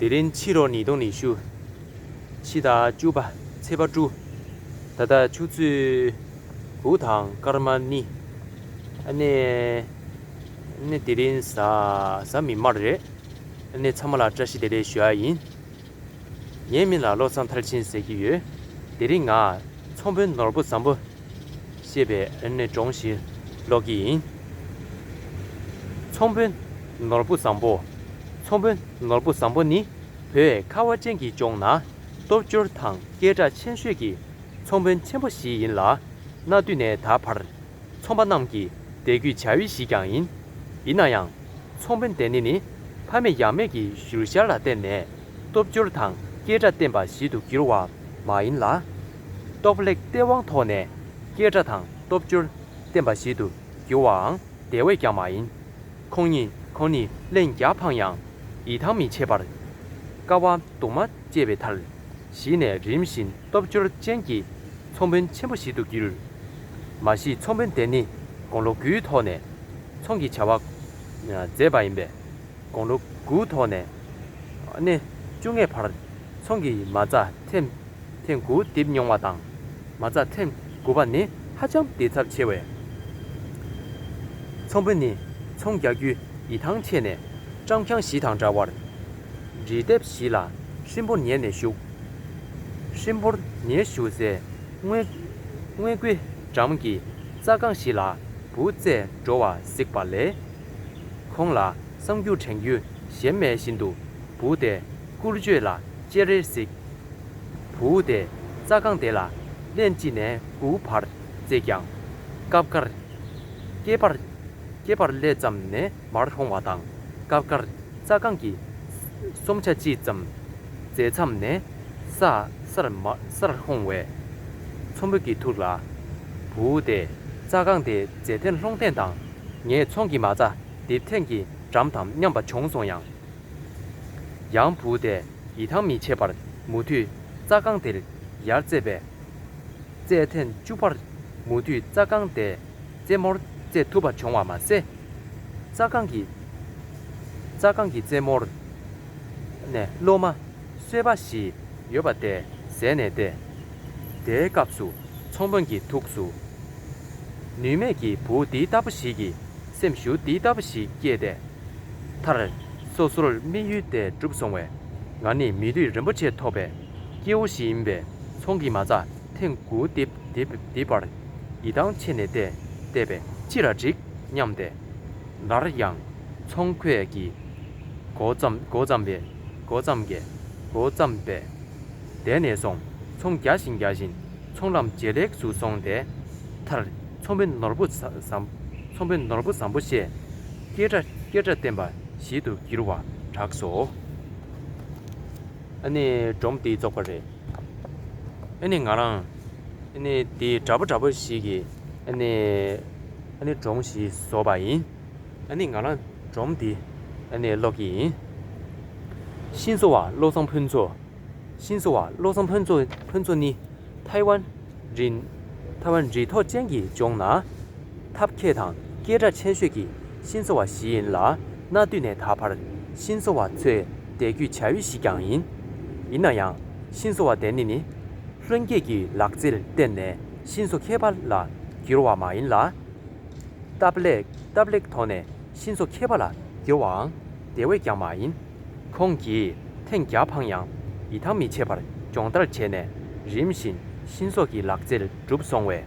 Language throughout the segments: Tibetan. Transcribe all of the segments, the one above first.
དེ་རིང་ཕྱི་རོ་ནི་དུང་ནི་བཞུ། ཕྱི་དང་བཅུ་བ་ཚེས་པ་བཀྲུ། ད་ལྟ་ཆུ་ཚོད་དགུ་དང་སྐར་མ་ནི། ཨ་ནེ། ཨ་ནེ་དེ་རིང་གཟའ་གཟའ་མིན་མར་རེད། ཨ་ནེ་ཚང་མ་ལ་བཀྲ་ཤིས་བདེ་ལེགས་ཞུ་ཨ་ཡིན། ངའི་མིང་ལ་བློ་བཟང་མཐར་ཕྱིན་ཟེར་གྱི་ཡོད། དེ་རིང་ང་ཚོང་དཔོན་ནོར་བུ་བཟང་པོ། ཤེས་པས་ནི་འདྲོངས་ཤིང་ལོག་གི་ཡིན། ཚོང་དཔོན་ནོར་བུ་བཟང་པོ། ཚོང་དཔོན་ནོར་བུ་བཟང་པོ་ནི་བོད་ཁ་བ་ཅན་གྱི་ལྗོངས་ན་སྟོབས་འབྱོར་དང་སྐད་གྲགས་ཆེན་ཤོས་ཀྱི་ཚོང་དཔོན་ཆེན་པོ་ཞིག་ཡིན་ལ། གནའ་དུས་ནས་ད་བར་ཚོང་པ་རྣམས་ཀྱི་དད་གུས་བྱ་ཡུལ་ཞིག་ཀྱང་ཡིན། ཡིན་ན་ཡང་ཚོང་དཔོན་དེ་ནི་ནི་ཕ་མེས་ཡང་མེས་ཀྱི་བཞུར་ཤར་ལ་བརྟེན་ནས། སྟོབས་འབྱོར་དང་སྐད་སྒྲ་བསྟན་པ་བཞིན་དུ་བགྱིར་བ་མ་ཡིན་ལ། སྟོབས་ལེགས་ལྟས་དབང་ཐོག་ནས་སྐད་སྒྲ་དང་སྟོབས་འབྱོར་བསྟན་པ་བཞིན་དུ་བགྱི་བའང་དེ་བས་ཀྱང་མ་ཡིན། ཁོང་ཉིད་ཁོང་ནི་གླེང་རྒྱག་ཕངས་ཡང་ཡིད་ཐང་མི་ཆད་པར། དཀའ་བ་སྡུག་མ་སྤྱད་པའི་མཐར། གཞི་ནས་རིམ་བཞིན་སྟོབས་འབྱོར་ཅན་གྱི་ཚོང་དཔོན་ཆེན་པོ་ཞིག་ཏུ་བགྱིར། མ་གཞི་ཚོང་དཔོན་དེ་ནི་དགུང་ལོ་དགུའི་ཐོག་ནས་ཚོང་གི་བྱ་བ་མཛད་པ་ཡིན་པས། དགུང་ལོ་དགུའི་ཐོག་ནས་སྣེ་བཅུ་ལྔའི་བར་ཚོང་གི་མ་རྩ་ཐེམ་ཐེ་དགུ་བརྡིབས་མྱོང་བ་དང། མ་རྩ་ཐེམ་དགུ་པ་ནི་ཧ་ཅང་བརྡིབས་ཚབས་ཆེ་བས། ཚོང་དཔོན་ནི་ཚོང་རྒྱག་རྒྱུའི་ཡིད་ཐང་ཆད་ནས། སྤྲང་འཁྱང་བཞི་དང་འདྲ་བར་འབྲི་དེབ་བཞི་ལ་ཧྲིན་པོར་ཉལ་ནས་བཞུགས། ཧྲིན་པོར་ཉལ་བཞུགས་སའི་སྔོན་དགུའི་འགྲམ་གྱི་རྩྭ་སྒང་བཞི་ལ་བུ་བཙས་འགྲོ་བ་གཟིགས་པ་ལས། ཁོང་ལ་གསང་རྒྱུ་དྲན་རྒྱུ་གཞན་མེད་བཞིན་དུ་བུ་དེ་སྐུ་བརྗོད་ལ་ཅེ་རེར་གཟིགས། བུ་དེས་རྩྭ་རྐང་དེ་ལ་གླན་གཅིག་ནས་དགུའུ་བར་བརྩེས་ཀྱང། སྐབས་འགར། སྐེད་པར། སྐེད་པར་སླེ་ཙམ་ནས་མར་ལྷུང་བ་དང་སྐབས་འགར་རྩྭ་རྐང་གི་གསུམ་ཆ་གཅིག་ཙམ་བརྫེས་མཚམས་ནས་ས་སར་མ་སར་ལྷུང་བས། ཚོམ་བུ་གྱིས་ཐུག་ལ། བུ་དེས་རྩྭ་རྐང་དེ་བརྫེས་ཐེངས་ལྷུང་ཐེངས་དང། ངས་ཚོང་གི་མ་རྩ་འདི་ཐེངས་ཀྱི་འགྲམ་དམ་སྙམ་པ་བྱུང་སོང་ཡང། ཡང་བུ་དེས་ཡི་ཐང་མི་བྱེད་པར་མུ་མཐུད་རྩྭ་རྐང་དེར་ཡར་བཙས་པས། རྩྭའི་ཐེངས་བཅུ་པར་མུ་མཐུད་རྩྭ་རྐང་དེས་རྩེ་མོར་བཙས་ཐུབ་པ་བྱུང་བ་མ་ཟད། རྩྭ་རྐང་གི་རྩྭ་རྐང་གི་རྩེ་མོར་ནས་གློ་མ་གསོལ་བ་ཞིག་ཡོད་པ་དེ་བཟས་ནས་བསྡད། དེའི་སྐབས་སུ། ཚོང་དཔོན་གྱི་ཐུགས་སུ། ནུས་མེད་ཀྱི་བུ་འདི་ལྟ་བུ་ཞིག་གི་སེམས་ཤུགས་འདི་ལྟ་བུ་ཞིག་སྐྱེས་ཏེ། མཐར། སོ་སོར་དམིགས་ཡུལ་དེ་འགྲུབ་སོང་བས། ང་ནི་མི་བདུད་རིན་པོ་ཆེ་ཐོབ་པའི་སྐྱེ་བོ་ཞིག་ཡིན་པས་ཚོང་གི་མ་རྩ་ཐེངས་དགུ་བརྡིབས་པར་ཡི་ཐང་ཆད་ནས་བལྟས་པས་ཅི་ལ་འགྲིག་སྙམ་སྟེ། སླར་ཡང་ཚོང་ཁོས་ཀྱིས་མགོ་བརྩམས་པས། བསྡད་ནས་སོང་ཚོང་རྒྱག་བཞིན་རྒྱག་བཞིན་ཚོང་ལམ་ཇེ་ལེགས་སུ་སོང་སྟེ། མཐར། ཚོང་པའི་ནོར་བུ་བཟང། ཚོང་པའི་ནོར་བུ་བཟང་པོ་ཞེས། སྐད་སྒྲ་སྐད་སྒྲ་བསྟན་པ་ཞིག་ཏུ་གྱུར་བར་གྲགས་སོ། ཨ་ནི་སྒྲོམ་དེ་རྫོགས་པ་རེད། ཨ་ནི་ང་རང། ཨ་ནི་དེ་འདྲ་པོ་འདྲ་པོ་ཞིག་གི། ཨ་ནི། ཨ་ནི་སྒྲོམ་ཞིག་བཟོ་བ་ཡིན། ཨ་ནི་ང་རང་སྒྲོམ་དེ། ཨ་ནི་ཀློག་གི་ཡིན། ཤིང་བཟོ་བ་བློ་བཟང་ཕུན་ཚོགས། ཤིན་ཚོ་བ་བློ་བཟང་ཕུན་ཚོ་ནི་ཐའེ་ཝན་རི་ཐོག་ཅན་གྱི་ལྗོངས་ན་ཐབས་མཁས་དང་སྐད་སྒྲ་ཆེན་ཤོས་ཀྱི་ཤིན་ཚོ་བ་ཞིག་ཡིན་ལ་གནའ་དུས་ནས་ད་བར་ཤིན་ཚོ་བ་ཚོའི་བསྡད་རྒྱུའི་བྱ་ཡུལ་ཞིག་ཀྱང་ཡིན། ཡིན་ན་ཡང་ཤིན་ཚོ་བ་དེ་ནི་ནི་ལྷུན་རྒྱས་ཀྱི་ལག་རྩལ་བརྟེན་ནས་ཤིན་ཚོ་མཁས་པ་ལ་གྱུར་བ་མ་ཡིན་ལ། སྟབས་ལེགས་ཐོག་ནས་ཤིན་ཚོ་མཁས་པ་ལ་གྱུར་བའང་དེ་བས་ཀྱང་མ་ཡིན། ཁོང་གིས་ཐེངས་བརྒྱ་འཕངས་ཡང་ཡི་ཐང་མི་ཆད་པར་སྦྱོང་བརྡར་བྱས་ནས་རིམ་བཞིན་ཤིན་བཟོ་གི་ལག་རྩལ་གྲུབ་སོང་བས་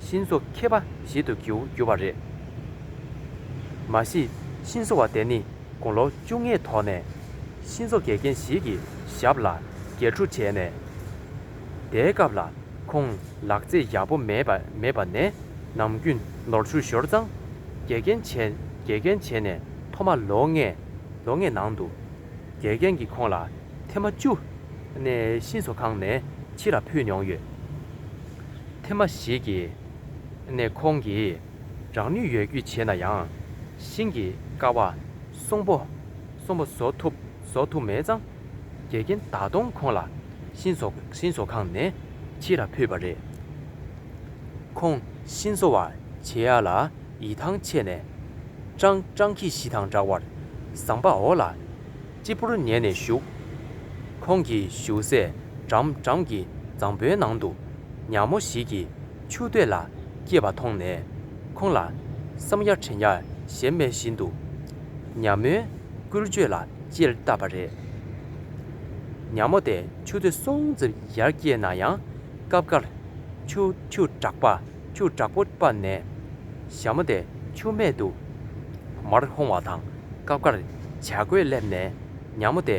ཤིན་བཟོ་མཁས་པ་ཞིག་ཏུ་གྱུར་གྱུར་བ་རེད། མ་གཞི་ཤིན་བཟོ་བ་དེ་ནི་དགུང་ལོ་བཅུ་ལྔའི་ཐོག་ནས་ཤིན་བཟོ་དགེ་རྒན་ཞིག་གི་ཞབས་ལ་འགལ་འཁྲུ་བྱས་ནས། དེའི་སྐབས་ལ་ཁོང་ལག་རྩལ་ཡག་པོ་མེད་མེད་པ་ནས་ནམ་རྒྱུན་ནོར་འཁྲུལ་ཞོར་རྫང་དགེ་རྒན་བྱས་དགེ་རྒན་བྱས་ནས་ཐོག་མ་ལོ་ལྔའི་ལོ་ལྔའི་ནང་དུ། དགེ་རྒན་གྱིས་ཁོང་ལ་ཐེངས་མ་བཅུ། གནས་གཤིན་བཟོ་ཁང་ནས་ཕྱི་ལ་ཕུད་མྱོང་ཡོད། ཐེངས་མ་བཞི་གྱི། ནས་ཁོང་གིས་རང་ནུས་ཡོད་རྒུས་བྱས་ན་ཡང། ཤིང་གི་ཀ་བ། གསོང་པོ། གསོང་པོ་བཟོ་ཐུབ། བཟོ་ཐུབ་མེད་ཙང། དགེ་རྒན་ད་དུང་ཁོང་ལ་གཤིན་བཟོ། གཤིན་བཟོ་ཁང་ནས་ཕྱི་ལ་ཕུད་པ་རེད། ཁོང་གཤིན་བཟོ་བ་བྱེད་ཡ་ལ། ཡི་ཐང་ཆད་ནས། ཀྲང་ཀྲང་གིས་ཤི་དང་འདྲ་བར་ཟངས་པ་འོག་ལ་སྤྱི་བོར་ཉལ་ནས་བཞུགས། ཁོང་གི་བཞུགས་སའི་འགྲམ་འགྲམ་གྱི་རྫང་བུའི་ནང་དུ་ཉག་མོ་ཞིག་གིས་ཆུ་སྟོད་ལ་སྐྱེས་པ་མཐོང་ནས་ཁོང་ལ་བསམ་ཡ་དྲན་ཡ་ཞེ་མེད་བཞིན་དུ་ཉག་མོའི་སྐུལ་བརྗོད་ལ་ལྕེ་བལྟ་བ་རེད། ཉག་མོ་དེ་ཆུ་སྟོད་སྲོང་བཙིར་ཡར་སྐྱེས་ན་ཡང་སྐབས་འགར་ཆུ་ཆུ་དྲགས་པ། ཆུ་དྲག་པོ་སྤར་ནས་ཞྭ་མོ་དེ་ཆུ་སྨད་དུ་མར་ལྷུང་བ་དང་སྐབས་འགར་བྱ་རྒོད་སླེབས་ནས་ཉག་མོ་དེ་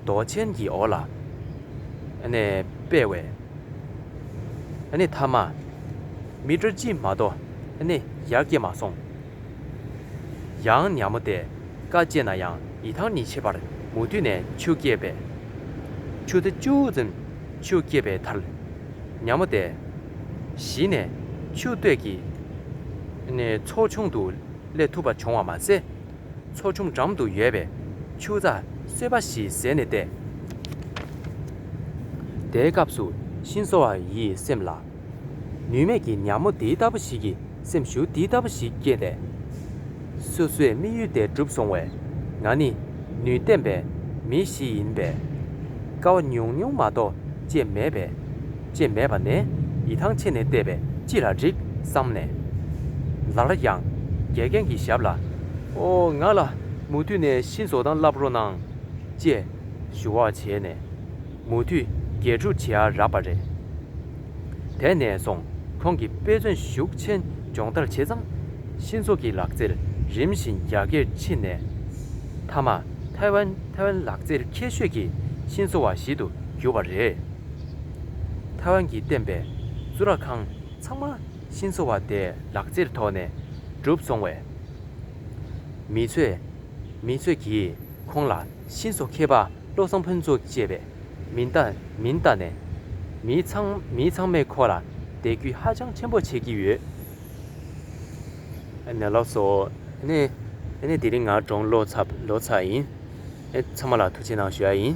རྡོ་ཆེན་གྱི་འོག་ལ་སྤེལ་བས་མཐའ་མ་མི་དྲོ་ཅི་མ་དོ་ཡར་སྐྱེ་མ་སོང། ཡང་ཉག་མོ་དེ་དཀའ་སྤྱད་ན་ཡང་ཡི་ཐང་ནི་ཆེ་བར་མུ་མཐུད་ནས་ཆུ་སྐྱེས་པས་ཆུ་དེ་ཅུང་ཙམ་ཆུ་སྐྱེས་པའི་མཐར། ཉམས་མོ་བདེ། བཞི་ནས། ཆུ་སྟོད་ཀྱི། ནས་ཚོགས་ཆུང་དུ་སླེབས་ཐུབ་པ་བྱུང་བ་མ་ཟད། ཚོགས་ཆུང་འགྲམ་དུ་ཡོད་པའི་ཆུ་རྩ་སོས་པ་ཞིག་བཟས་ནས་བསྡད། དེའི་སྐབས་སུ་ཤིན་བཟོ་བ་ཡི་སེམས་ལ། ནུས་མེད་ཀྱི་ཉམས་མོ་འདི་ལྟ་བུ་ཞིག་གི་སེམས་ཤུགས་འདི་ལྟ་བུ་ཞིག་སྐྱེས་ཏེ། སོ་སོའི་དམིགས་ཡུལ་དེ་འགྲུབ་སོང་བས། ང་ནི་ནུས་ལྡན་པའི་མི་ཞིག་ཡིན་པས། དཀའ་བ་ཉུང་ཉུང་མ་གཏོགས་སྤྱད་མེད་པས། སྤྱད་མེད་པ་ནས་ཡི་ཐང་ཆད་ནས་བལྟས་པས་ཅི་ལ་འགྲིག་བསམ་ནས། ལ་ལ་ཡང་དགེ་རྒན་གྱི་ཞབས་ལ། ཨོ། ང་ལ་མུ་མཐུད་ནས་ཤིང་བཟོ་སྟངས་བསླབ་རོགས་གནང། ཅེས་ཞུ་བ་བྱས་ནས། མུ་མཐུད་དགེ་ཕྲུག་བྱེ་བ་རག་པ་རེད། དེ་ནས་བཟུང་ཁོང་གིས་དཔེ་མཚོན་ཤུགས་ཆེན་སྦྱོང་བརྡར་བྱས་ཙང་ཤིན་ཚོ་གི་ལག་རྩལ་རིམ་བཞིན་རྒྱ་སྐྱེད་ཕྱིན་ནས་མཐའ་མ་ཐའེ་ཝན་ལག་རྩལ་ཁྱད་ཤོས་ཀྱི་ཤིན་ཚོ་བ་ཞིག་ཏུ་གྱུར་པ་རེད། ཐའེ་ཝན་གྱིས་བསྟེན་པའི་གཙུག་ལག་ཁང་ཚང་མ་ཤིན་ཚོ་བ་དེའི་ལག་རྩལ་ཐོག་ནས་གྲུབ་སོང་བས། མི་ཚོས་མི་ཚོས་ཀྱིས་ཁོང་ལ་ཤིན་ཚོ་མཁས་པ་བློ་བཟང་ཕུན་ཚོགས་ཅེས་པའི་མིན་ལྟ་མིན་ལྟ་ནས་མིའི་ཚང་མིའི་ཚང་མས་ཁོ་ལ་དད་གུས་ཧ་ཅང་ཆེན་པོ་བྱེད་ཀྱི་ཡོད། ནས་ལོག་སོ། ནས་ནས་དེ་རིང་ང་གྲོངས་ལོ་ཚ་ལོ་ཚ་ཡིན། ཚང་མ་ལ་ཐུགས་ཆེ་གནང་ཞུ་ཡ་ཡིན།